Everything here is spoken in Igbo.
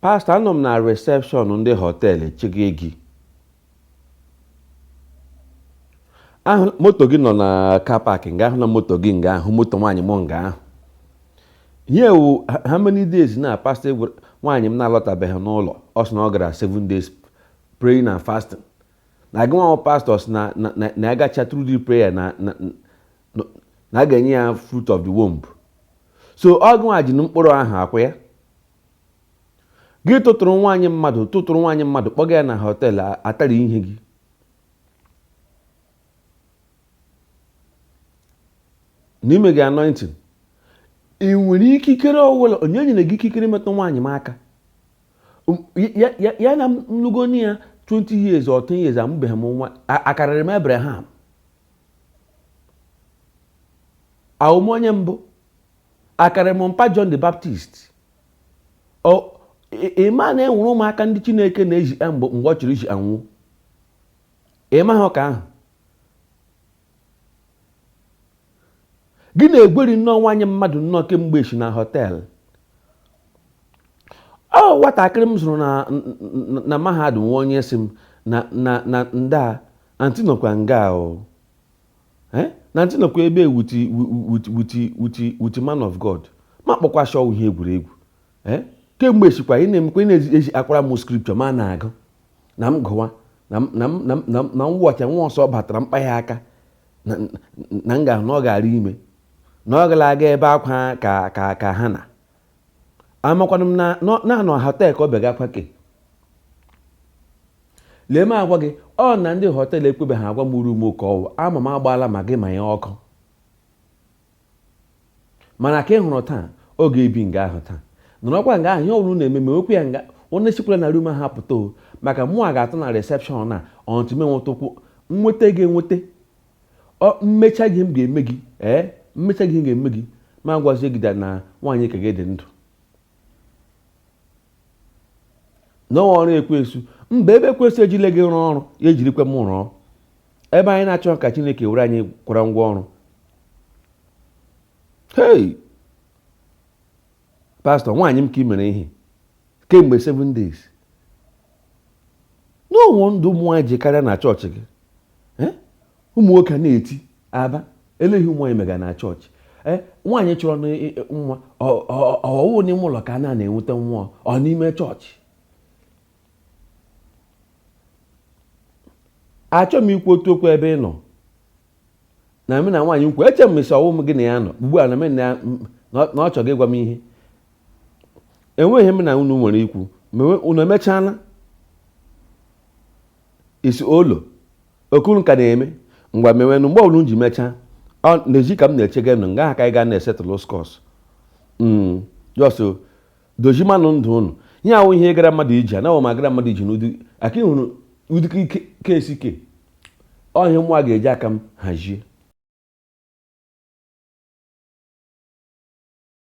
Pastor, anọ m na reception ndị hotel chega gị. ahụ m moto gị nọ na car park nga ahụ na moto gị nga ahụ moto nwaanyị m nga ahụ ihe how many days na pastor nwaanyị m na-alọtabeghị n'ụlọ ọ sị na ọ gara seven days praying and fasting na gị nwa pastor sị na na ya gacha through the prayer na na a ga-enye ya fruit of the womb so ọ gị nwa ji mkpụrụ ahụ akwa ya gị tụtụrụ nwaanyị mmadụ tụtụrụ nwaanyị mmadụ kpọga ya na hotel a- atara ihe gị n'ime gị anointing ị nwere ikikere ọwụla onye nyere gị ikikere metụ nwaanyị m aka Um, ya- ya ya na m lụgonụ ya 20 years or 10 years amụbeghị m nwa a- akarịrị m Abraham awụ m onye mbụ akara mụ mpa John the Baptist ịma na enwere ụmụaka ndị Chineke na-eji eh, mgbe ọ chọrọ iji anwụ ịma ha ka ahụ gị na-egweri nnọọ nwaanyị mmadụ nnọọ kemgbe echi na hotel ọ nwatakịrị m zụrụ na mahadum nwa onye si m na na na ndaa antị nọkwa nga o eh? na antị nọkwa ebe wuti wuti wuti wuti man of God ma kpọkwa shị ọ wụ ihe egwuregwu eh? kemgbe echikwa ị na-emekwa ị na-eji akọwara m scripture ma na-agụ na m gụwa na m wọcha nwa ọsọ batara mkpa ya aka na m ga na ọ gara ime na ọ gara aga ebe akwa ka ka ka ha na amakwanụ m na nọ- na ọ nọ hotel ka ọ bịa gakwa ke lee m agwa gị ọ na ndị hotel ekwebeghị agwa m room nke ọ wụ ama m agbaala ma gị ma ya ọkụ mana ka ị hụrụ taa ọ ga-ebi nga ahụ taa nọrọkwa nga ahụ ihe ọbụla unu na-eme ma okwu ya nga onye sikwala na room ahụ apụta o maka mụwa ga-atọ na reception na until m enweta ụkwụ nweta gị enweta ọ m mechaa gị ihe m ga-eme gị ee eh, m mechaa gị ihe m ga-eme gị ma gwazie gị na nwaanyị ka gị dị ndụ na ọ wụ ọrụ ekwensu mba ebe ekwensu ejile gị rụọ ọrụ ya ejirikwa m rụọ ebe anyị na-achọ ka Chineke were anyị kwara ngwa ọrụ hei pastor nwaanyị m ka ị mere ihe kemgbe 7 days no wonder ụmụ nwaanyị ji karịa na chọọchị gị eh? ụmụ nwoke na-eti a bịa lee ihe ụmụ nwaanyị mega na chọọchị eh? nwaanyị chọrọ nwa ọ wụ n'ime ụlọ ka a na-enweta nwa ọ n'ime chọọchị achọghị m ikwu otu okwu ebe ị nọ na m na nwaanyị nkwu eche m sị ọ wụ gị na ya nọ ugbu a na m na na ọ chọghị ịgwa m ihe e nwee ihe m na unu nwere ikwu ma unu emechaala isi olo okuru ka na-eme ngwa mewenụ mgbe ọbụla ji mechaa na-eji ka m na-echega nụ nga aka ị ga na-esetụlụ skọs hmm, just dozimanụ ndụ unu ihe a wụ ihe gara mmadụ iji anaghị m agara mmadụ iji n'ụdị aka ịhụrụ ụdị kesi ke ọ ihe mụnwa ga-eji aka m hazie